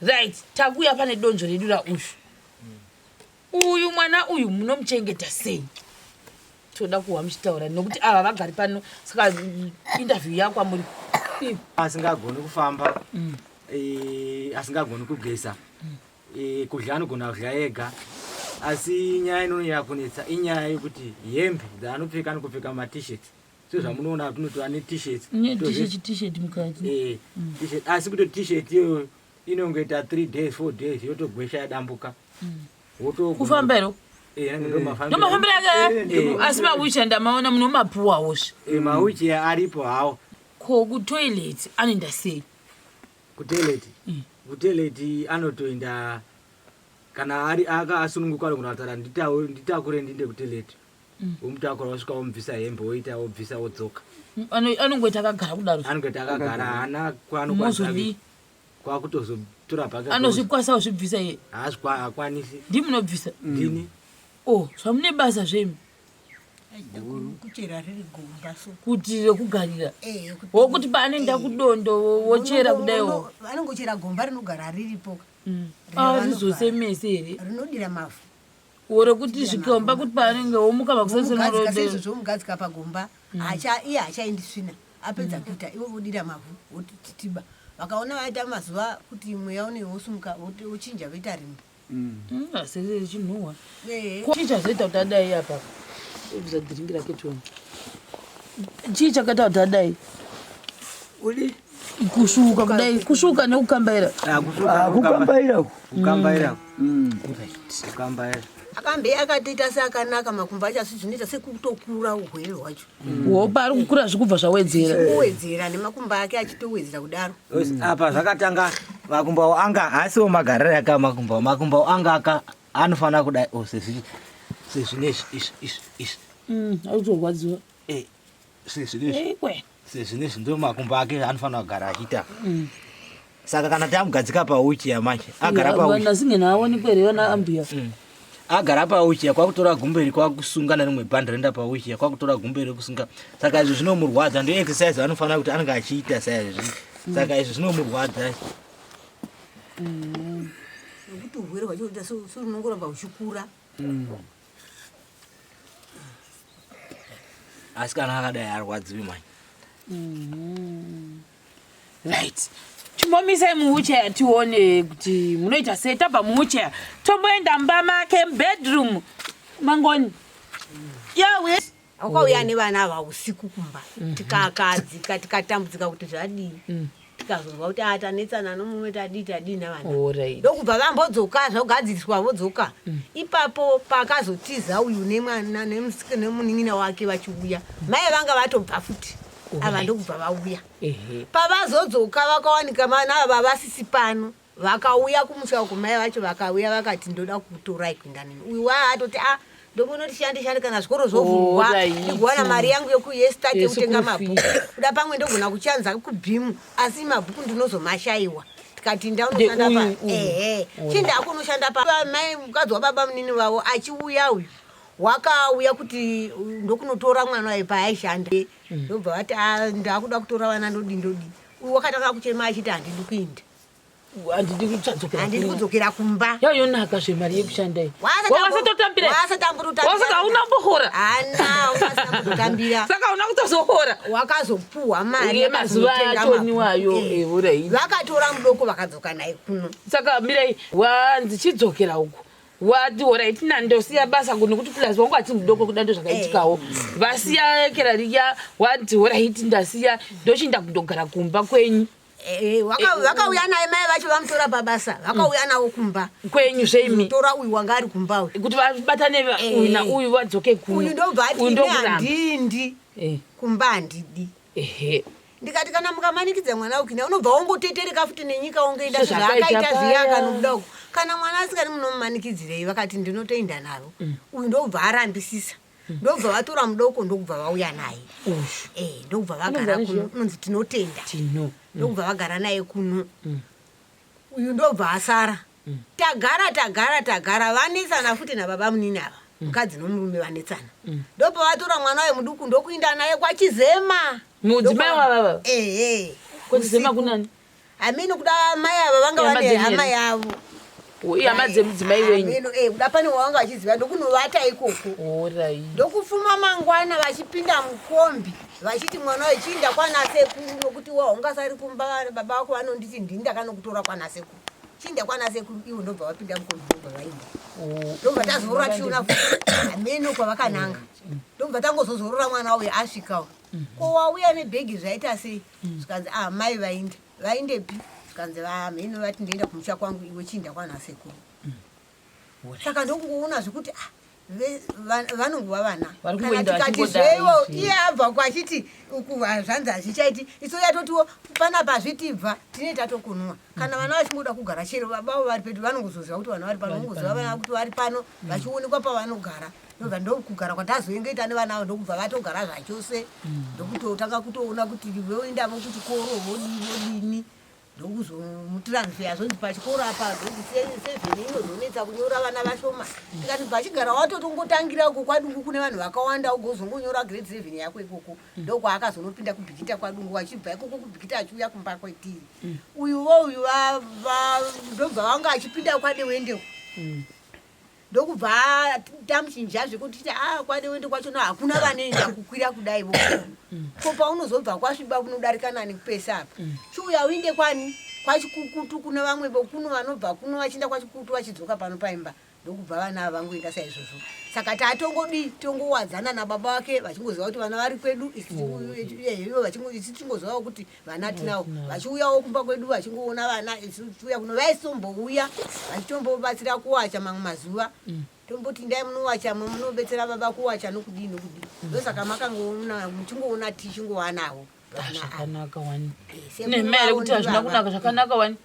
Right, takuya pane donzvo redu raushu. Uyu mwana uyu munomuchengeta sei? Toda kuwa muchitaura nokuti ava vagari pano saka interview yako amuri. Asingagoni kufamba. Mm. Eh, asingagoni kugeza. Mm. Eh, kudya anogona kudya ega. Asi nyaya inonyaya kunetsa inyaya yekuti hembe dzaanopfeka anokupfeka matishet. sezvamunoona apa tinotora ne t-shirts ne t-shirt t-shirt mukati eh mm. t-shirt asi kuto t-shirt iyo inongoita 3 days 4 days yotogwesha yadambuka mm. woto kufamba iro eh, ndomafambira ake eh, eh. asi mawichi ndamaona muno mapuwa woshe mawichi aripo hawo ko kutoilet anoenda sei kutoilet mm. kutoilet anotoenda kana ari aka asununguka ari kunoatara nditakure ndinde kutoilet womutakura wosvika womubvisa hembe woita wobvisa wodzoka anongoita akagara kudaro anongoita akagara haana kwaanokwaazodii kwakutozotora bhake anozvikwasa uzvibvisa iye haakwanisi ndii munobvisa mm. ndini o oh, zvamune basa zvemi kuti rekugarira eh, wokuti paanoenda eh. kudondo wochera kudaiwo anongochera gomba rinogara riripo mm. ah, rizose mese here rinodira mavhu ore kuti zvikomba kuti paanenge womuka makusasenorodeizvozvo mugadzika pagomba mm. acha iye achaindi svina apedza mm. kuita ivo vodira mavhu votititiba vakaona vaita mazuva kuti mweya unei wosumuka wochinja voita rimbo mm. asichinhuwa chii chazoita kuti adai apa ibvisa dhiringi rake toni chii chakaita kuti adai uli kusvuuka kudai kusvuuka nekukambaira ah, ah, kukambaira kukambaira mm. kukambaira akambe akatoita seakanaka makumbo acho asi zvinoita sekutokura uhwere hwacho mm. hopa ari kukura zvikubva zvawedzera kuwedzera nemakumbo ake achitowedzera kudaro mm. apa zvakatanga makumbo awo anga asiwo magariro aka makumbo awo makumbo awo anga aka anofanira kudai o oh, sezvinezvi izvi izvi izvi auzorwadziwa mm, eh. sezvinezvi sezvinezvi ndo makumbo ake anofanira kugara achiita mm. saka kana tamugadzika pauchi yamanje agara pauchiaonikwereanaambuya mm. agara pauchiya kwakutora gumbo iri kwakusunga nerimwe bhandi renda pauchiya kwakutora gumbo iri kusunga saka izvi zvinomurwadza ndo exercise anofanira kuti anenge achiita saizvi mm. saka izvi zvinomurwadza nekuti urwere hwacho uita so runongoramba uchikura asi kana akadai arwadziwi mani mm-hmm. right chimomisai muwheelchair tione kuti munoita sei tabva muwheelchair tomboenda mumba make mubedroom mangoni yawe Ukauya nevana ava usiku kumba mm-hmm. tikakadzika tikatambudzika kuti zvadii mm. tikazonzwa kuti a ah, tanetsana nomumwe tadii tadii navana ndokubva vambodzoka zvogadziriswa vodzoka mm. ipapo pakazotiza uyu nemwana nemunin'ina wake vachiuya mai vanga vatobva futi ava ndokubva vauya pavazodzoka vakawanika vana ava vasisi pano Vakauya kumusha uko mai vacho vakauya vakati ndoda kukutorai kuenda neni. Uyu waa atoti ah ndombonoti shandi shandi kana zvikoro zvovhurwa Alright. ndigowana mari yangu yokuyestate Yes, kutenga kufi. mabhuku. Kuda pamwe ndogona kuchanza kubhimu asi mabhuku ndinozomashaiwa. Tikati inda unoshanda Ndeuyu, pa uyu. ehe chinda hako unoshanda pa Ba- mai mukadzi wababa munini vavo achiuya uyu wakauya kuti uh, ndokunotora mwana waye paaishanda ndobva vati "Ah, ndakuda kutora vana ndodi ndodi uyu wakatanga kuchema achiti handidi kuinda handidi kuchadzokera handidi kudzokera kumba yayonaka zve mari yekushanda iyi wasatotambira wasaka hauna kumbohora saka hauna kutozohora wakazopuhwa mari yemazuva atoniwayo euraii vakatora mudoko vakadzoka naye kuno saka mirai wanzi chidzokera uku wati horai tina ndosiya basa kuno kuti plus wangu ati mudoko kuda ndo zvakaitikawo vasiya kerariya wati horai ti ndasiya ndochinda kundogara kumba kwenyu Eh, vaka- Eh, vakauya naye mai vacho vamutora pabasa vakauya nawo kumba kwenyu zveimi tora uyu wanga ari kumba uyu kuti vabatane va- Eh. uyu na uyu vadzoke kuno. uyu ndobva ati Uyu ini ndokuramba. handindi Eh, kumba handidi ehe. ndikati kana mukamanikidza mwana ukina unobva wongotetereka futi nenyika wongoenda So zvakaita zvakaita zviya paya. akanobuda uko kana mwana asikani munomumanikidzirei vakati ndinotoenda navo uyu ndobva arambisisa ndobva vatora mudoko ndokubva vauya naye eh, ndokubva vagara kuno unonzi tinotenda mm. ndokubva vagara naye kuno mm. uyu ndobva asara mm. tagara tagara tagara vanetsana futi nababa munini ava mukadzi nomurume vanetsana ndobva vatora mwana uye muduku ndokuinda naye kwachizema mudzimai wavava ehe eh, eh. kwachizema kunani I mean kuda mai ava vanga Ihama vane dzenyu hama here? yavo ihama dzemudzimai I wenyu mean, eh, kuda pane wavanga vachiziva ndokunovata ikoko horai ndokufuma mangwana vachipinda mukombi vachiti mwana uyu chiinda kwana sekuru nokuti wa ungasari kumba vari baba vako vanonditi ndini ndakanokutora kwana sekuru chiinda kwana sekuru ivo ndobva vapinda mukombi ndobva vainda ndobva tazorora tichiona futi hameno kwavakananga ndobva tangozozorora mwana uyu asvikawo ko wauya nebhegi zvaita sei mm. zvikanzi ah mai vainde vaindepi zvikanzi vamheno vati ndoenda kumusha kwangu iwe chiinda kwana sekuru mm. saka ndokungoona zvekuti ah vanonguva vana kana tikati zveivo iye abva uko achiti uku zvanzi hazvichaiti iso yatotiwo pana pazvitibva tine tatokunwa kana vana vachingoda kugara chero baba avo vari pedu vanongozoziva kuti vana vari pano vongoziva vana kuti vari pano mm. vachionekwa pavanogara ndobva ndokugara kwatazoenge ita nevana avo ndokubva vatogara zvachose mm. ndokutotanga kutoona kuti voendavo kuchikoro vodii vodini ndokuzomutransfeya zvonzi pachikoro apa zvonzi sevheni inozonetsa kunyora vana vashoma tikati bva chigara watotongotangira uko kwadungu kune vanhu vakawanda ugozongonyora grade seven yako ikoko ndokwaakazonopinda kubhikita kwadungu achibva ikoko kubhikita achiuya kumba kwetiri mm. uyu vo uyu ndobva vanga achipinda kwadewendeko mm. ndokubva tamuchinja zvekuti ti a ah, kwadewende kwacho no hakuna vanoenda kukwira kudai vo mm. ko paunozobva kwasviba kunodarika nani pese apa chiuya uinde kwani kwachikukutu kuna vamwe vokuno vanobva kuno vachienda kwachikukutu vachidzoka pano paimba ndokubva vana ava vangoenda saizvozvo saka tatongodii tongowadzana nababa vake vachingoziva kuti vana vari kwedu ivo vachisi tichingozivawo kuti vana tinawo vachiuyawo kumba kwedu vachingoona vana iuya kuno vaisimbouya vachitombobatsira kuwacha mamwe mazuva mm. tomboti ndai munowacha mwe munobetsera baba kuwacha nokudii nokudii mm. ndosaka makangoona muchingoona tichingowanavo zvakanaka wani eh, nemere kuti hazvina kunaka zvakanaka wani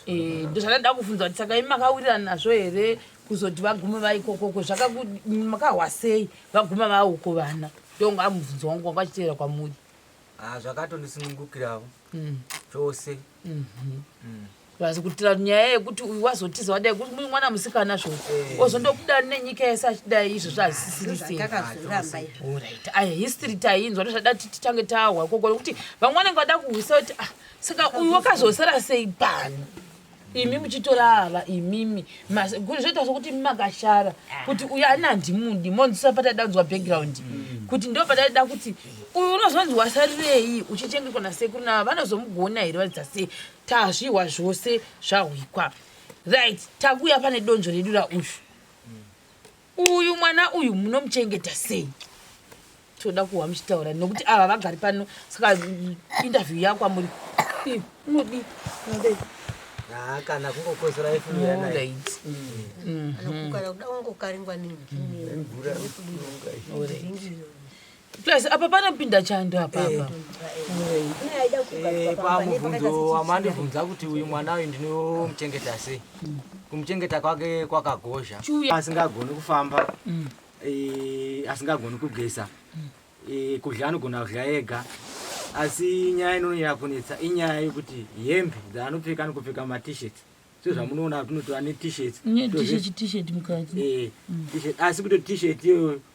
Eh, ndozvandaida kufunza kuti saka imi makawirira nazvo here kuzoti vagume vaikokoko zvakamakahwa sei vaguma vauko vana ndonga amubvunzo wangu wanga achiteera kwamuri ah, zvakatondisunungukirawo mm. chose mhm. mm. asi kutira nyaya yekuti uyu wazotiza wadai kuti muri mwana musikana zvo eh. ozondokudani nenyika yese achidai izvo zvazisisirisei ah, history tainzwa ndozvada titange tahwa koko nekuti vamwe vanenge vada kuhwisa kuti ah, saka uyu wakazosara sei pano imi muchitora ava imimi zvoita sokuti imi makashara kuti uyu ani handimudi monzisa pataida kunzwa background mm. kuti ndo pataida kuti uyu unozonzi wasarirei uchichengetwa nasekuru nava vanozomugona here varidza sei tazvihwa zvose zvahwikwa right takuya pane donzvo redu rauyu uyu mwana uyu munomuchengeta sei toda kuwa muchitaura nokuti ava vagari pano saka interview yako amuri unodii unodei Ah, kana kungokozora efuuyaai Plus apa panopinda chando apa eh. apa. Eh, pamubvunzo wamandibvunza kuti uyu mwana uyu ndinomuchengeta sei? Mm. Kumuchengeta kwake kwakagozha. Asingagoni kufamba. Mm. Eh, asingagoni kugeza. Mm. Kudya anogona kudya ega. Asi nyaya inonyanya kunetsa inyaya yekuti hembe dzaanopfeka anokupfeka matishet. So zvamunoona kuti anotora netishet. Netishet mukati. Eh, tishet asi kuti tishet iyoyo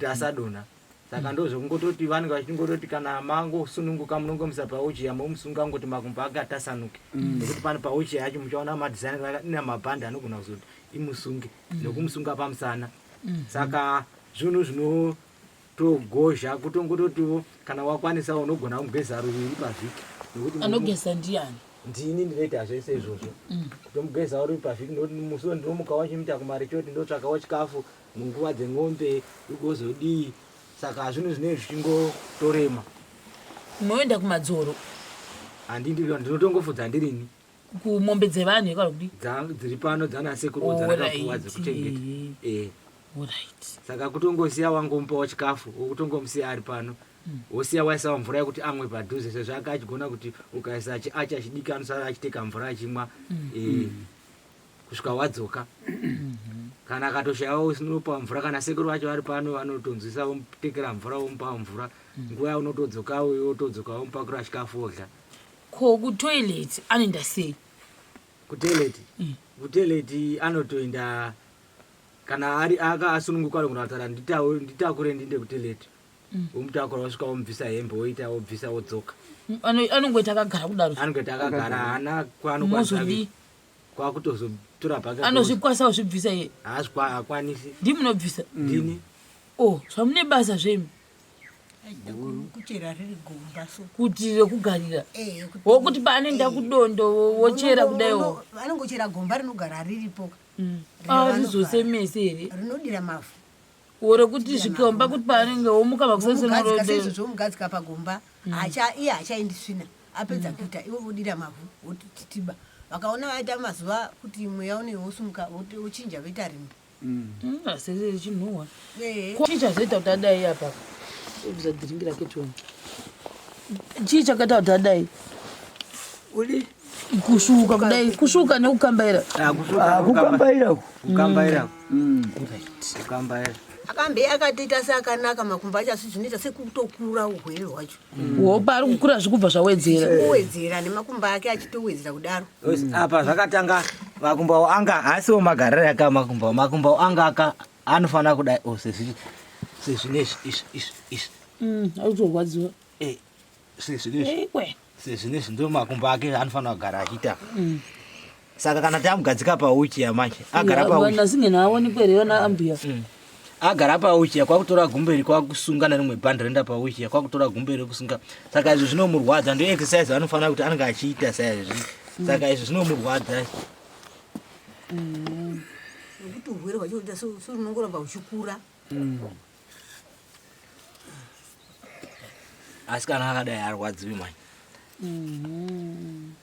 tasadona saka ndozvekungototi vanenge vachingototi kana mangosununguka munongomusa pauchiya momusunga kungoti makumbo ake atasanuke mm. nekuti pane pauchiya yacho muchaona madhisaini ina mabhandi anogona kuzoti imusunge mm. nokumusunga pamusana mm. saka zvinhu zvinotogozha kutongototiwo kana wakwanisa unogona kugeza ruviri pavhiki nekuti anogeza ndiani ndini ndinoita zvese izvozvo kutomugeza uri pavhiki nekuti musi wendinomuka wachimuita kumari choti ndotsvakawo chikafu munguva dzengombe ugozodii saka zvinhu zvinenge zvichingotorema unoenda kumadzoro handindi ndinotongofudza ndirini kumombe dzevanhu yekara kudi dziri pano dzanasekuru dzanakapuwa dzekuchengeta eh. saka kutongosiya wangomupawo chikafu wokutongomusiya ari pano hmm. wosiya waisawo mvura yekuti amwe padhuze sezvo ake achigona kuti ukaisa chiachi achidiki anosara achiteka mvura achimwa hmm. eh. hmm. kusvika wadzoka kana akatoshayawo usinopa mvura kana sekuru vacho vari pano vanotonzwisa vomutekera mvura vomupa mvura nguva yaunotodzoka uyo wotodzoka womupakura chikafu odla ko kutoilet anoenda sei kutoilet mm. kutoilet anotoenda kana ari aka asununguka ari kunotaura nditakure ndinde kutoilet mm. womutakura wosvika womubvisa hembe woita wobvisa wodzoka anongoita akagara kudaro anongoita akagara haana kwaanokwaazodii kwakutozotora bag anozvikwasa kuzvibvisa iye haakwanisi ndi munobvisa ndini o oh, zvamune basa zvemi kuchera riri gomba so kuti rekugarira eh, wokuti paanenge akudondo eh. wochera kudaiwo vanongochera gomba rinogara riripo mm. ah, rizosemese here rinodira mavhu oro kuti zvikomba kuti paanenge womuka makusasenorodezvo omugadzika pagomba mm. iye hachaendi svina apedza mm. kuita ivo vodira mavhu votititiba vakaona vaita mazuva kuti mweya unei wosumuka wochinja voita rimbi mm. asese chinhuwa chii chazoita kuti adai apa obvisa dhiringi rake chona chii chakaita kuti adai kusvuuka kudai kusvuuka nekukambaira ah, ah, kukambaira kukambaira mm. kukambaira akambe akatoita seakanaka makumbo acho asi zvinoita sekutokura urwere hwacho mm. wopa ari kukura zvikubva zvawedzera kuwedzera nemakumbo ake achitowedzera kudaro mm. apa zvakatanga makumbo awo anga haasiwo magariro aka makumbo makumbo awo anga aka anofanira kudai o oh, sezvine izvi izvi izvi izvi auzorwadziwa mm, eh. sezvinezvi ndo makumbo ake anofanira kugara achiita mm. saka kana tamugadzika pauchi yamanje agara pauchiaonikwereyonaambuya mm. agara pauchiya kwakutora gumbo iri kwakusunga nerimwe bhandi roenda pauchiya kwakutora gumbo iri kusunga saka izvi zvinomurwadza ndo exercise anofanira kuti anenge achiita saizvi mm. saka izvi zvinomurwadza nekuti urwere hwacho uita so runongoramba uchikura asi kana akadai arwadziwi mani mm-hmm.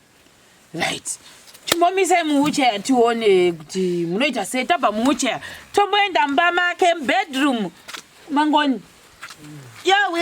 right chimbomisai muwheelchair tione kuti munoita sei tabva muwheelchair tomboenda mumba make mubedroom mangoni yawe